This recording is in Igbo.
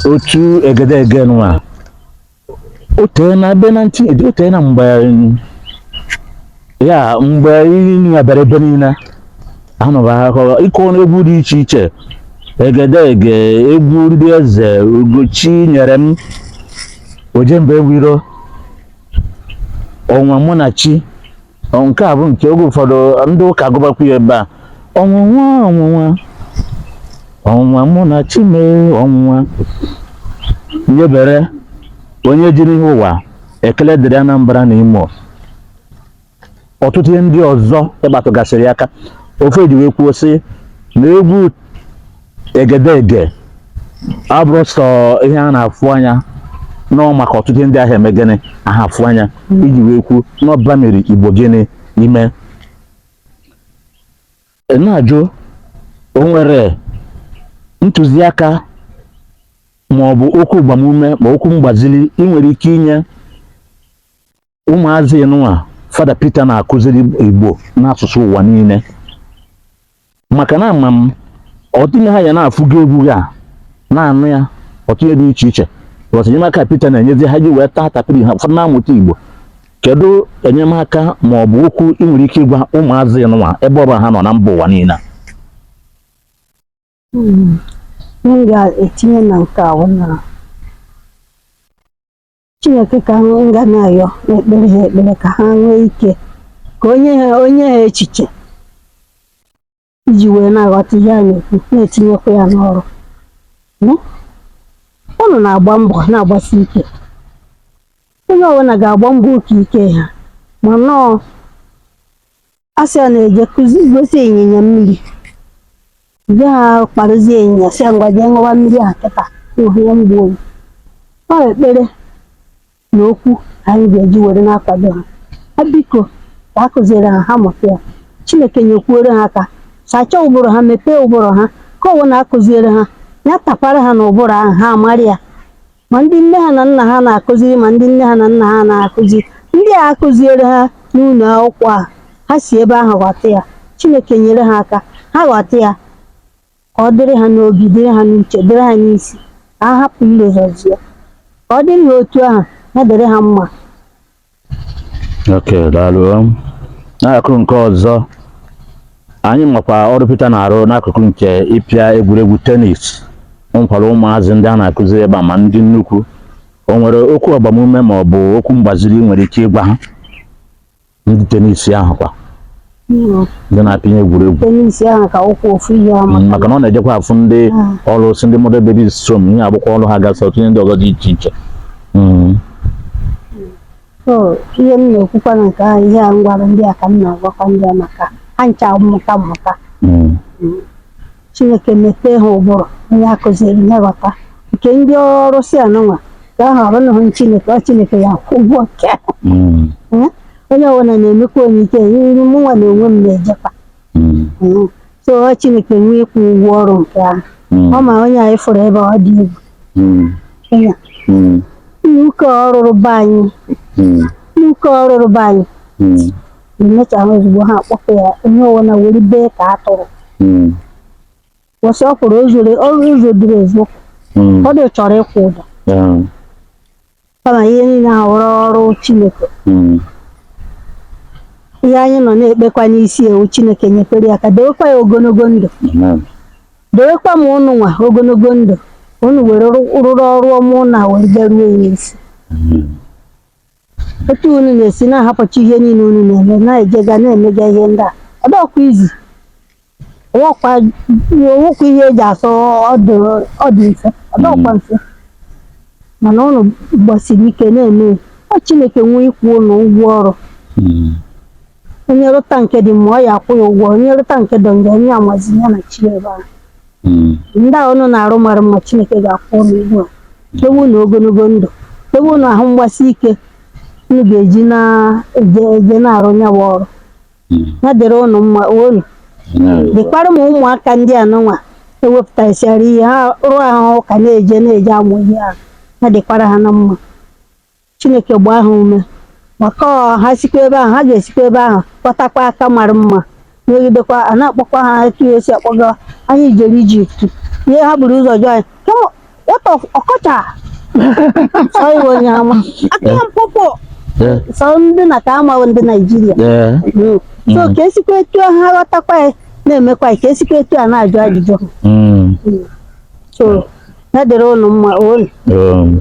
otu egedege nwa o tee na be na ntị o tee na mgbe ya mgbe iri nwa bịara ebe niile anụba akọ ịkọ egwu dị iche iche egedege egwu ndị eze ugochi nyere m ojemba enwe iro ọnwụnwa mụ na chi nke a bụ nke oge ụfọdụ ndị ụka gụbakwu ya ebe a ọnwụnwa ọnwụnwa ọnwụnwa mụ na chi m ọnwụnwa nyebere onye jiri ihe ụwa ekele dịrị Anambra na Imo ọtụtụ ihe ndị ọzọ ị kpatụgasịrị aka ofe ji wee kwuo sị na egwu egedege abụrọ sọ ihe a na-afụ anya nọọ maka ọtụtụ ihe ndị aha eme gịnị aha afụ anya iji wee kwuo n'ọba mere Igbo gịnị ihe m na-ajụ o nwere ntụziaka ma ọ bụ okwu agbamume ma okwu mgbaziri ị nwere ike inye ụmụazị nwa fada Peter na-akụziri Igbo n'asụsụ ụwa niile maka na ama m ọtụtụ n'ime ha ya na-afụgo egwu ha na-anụ ya ọtụtụ ihe dị iche iche bọs enyemaka Peter na-enyezi ha ji wee taa tapịrị ha ụfọdụ na-amụta Igbo kedu enyemaka ma ọ bụ okwu ị nwere ike ịgwa ụmụazị nwa ebe ọ bụla ha nọ na mba ụwa niile hmm. m ga-etinye na nke a Chineke ka m ga na-ayọ na-ekpere ha ekpere ka ha nwee ike ka o nye ha o nye ha echiche iji wee na-aghọta ihe a na-ekwu na-etinyekwa ya n'ọrụ unu na-agba mbọ na-agbasi ike onye ọbụla ga-agba mbọ oke ike ha ma nọọ a sị a na-eje kụzi gosi ịnyịnya mmiri ndị ha kparụzi ịnyịnya sị ngwa jee ṅụwa mmiri a kịta ihe mgbu oyi ọ ekpere na okwu anyị ga-eji were na-akwado ha ha biko ka a kụziere ha ha mụta ya chineke nyekwuoro ha aka sachaa ụbụrụ ha mepee ụbụrụ ha ka ọ wụ na a kụziere ha ya tapara ha n'ụbụrụ ahụ ha amara ya ma ndị nne ha na nna ha na-akụziri ma ndị nne ha na nna ha na-akụzi ndị a akụziere ha n'ụlọ akwụkwọ ahụ ha si ebe ahụ ghọta ya Chineke nyere ha aka ha ghọta ya ka ọ dịrị ha n'obi dịrị ha n'uche dịrị ha n'isi ka ha hapụ ilozọzi ya ka ọ dịrị ha otu ahụ ya dịrị ha mma okay daalụ n'akụkụ nke ọzọ anyị makwa ọrụ Peter na-arụ n'akụkụ nke ịpịa egwuregwu tenis o nwekwara ụmụazị ndị a na-akụziri ebe a ma ndị nnukwu o nwere okwu agbamume ma ọ bụ okwu mgbaziri ị nwere ike ịgwa ha ndị tenis ahụ kwa ndị na-apịnye egwuregwu ahụ ka wụkwa ofu ihe mm, maka na ọ na-ejekwa afụ ndị ah. ọrụsị ndị motherless babies home ihe agbụkwọ ọrụ ha gasị ọ tụnye ndị ọzọ dị iche iche mm. ihe m na-ekwukwa na nke ahụ ihe a m gwara ndị a ka m na-agwakwa ndị a maka ha ncha mmụta mmụta mm. Chineke mepee ha ụbụrụ onye a kụziri aghọta nke ndị ọrụsị anụnwa ka ahụ ọrụ ahụ Chineke ọ Chineke ya-akwụ ụgwọ nke ahụ. Mm, Eh, onye ọbụla na-emekwa onye ike nri mụnwa na onwe m na-ejekwa mm, Mm. so ọ Chineke nwe ịkwụ ụgwọ ọrụ nke ahụ mm, ọ ma onye anyị fụrụ ebe ọ dị egwu mm, Onye a, mm, n'ụka ọrụrụ be anyị mm, n'ụka ọrụrụ be anyị mm, na-emecha ahụ ozugbo ha akpọfe ya onye ọwụla were bee ka atụrụ Mm. kwụsị ọ kwụrụ ozure ọrụ ụzọ duru ezu Mm. ọ dị chọrọ ịkwụ ụdọ Yeah. kama ihe niile ahụ wụrụ ọrụ chineke Mm. ihe anyị nọ na-ekpekwa n'isi ya wụ chineke nyekwere ya aka dewekwa ya ogologo ndụ Amen. dewekwa ma ụnụnwa ogologo ndụ unu were rụ- rụrụ ọrụ ọma ụnụ a were bịaruo ya isi Amen. otu unu na-esi na-ahapụcha ihe niile unu na-eme na-ejega na-emega ihe ndị a ọ dọkwa easy ọ wụkwa ọ wụkwa ihe eji asị ọ dị ọ dị mfe ọ dọkwa mfe mana unu gbasiri ike na-eme ya. ọ Chineke nwe ịkwụ unu ụgwọ ọrụ Mm. onye rụta nke dị mma ọ ya-akwụ ya ụgwọ onye rụta nke dị njọ onye amazi ya na chi ebe ahụ Mm. ndị a unu na-arụ mara mma chineke ga-akwụ unu ụgwọ ya dewe unu ogologo ndụ dewe unu ahụ mgbasi ike unu ga-eji na-eje eje na-arụ ya bụ ọrụ Mm. ya dịrị unu mma unu Amen. dịkwara ma ụmụaka ndị anụnwa ewepụtasịara ihe ha rụọ ahụ ka na-eje na-eje amụ ihe ahụ ya dịkwara ha na mma Chineke gbaa ha ume maka ọ ha sikwa ebe ahụ ha ga-esikwa ebe ahụ kpọtakwa aka mara mma megidekwa a na-akpọkwa ha etu ya esi akpọga anyị jere Egypt ihe ha buru ụzọ jụọ anyị "Come on, what of Okocha so iwe onye ama aka m pụpụ Eh, so ndị a ka a ma ndị Naijiria eh, Mm. so ka esikwa etu a ha ghọtakwa ya na-emekwa ya ka esikwa etu a na-ajụ ajụjụ mm, so ya dịrị ụnụ mma ụnụ um,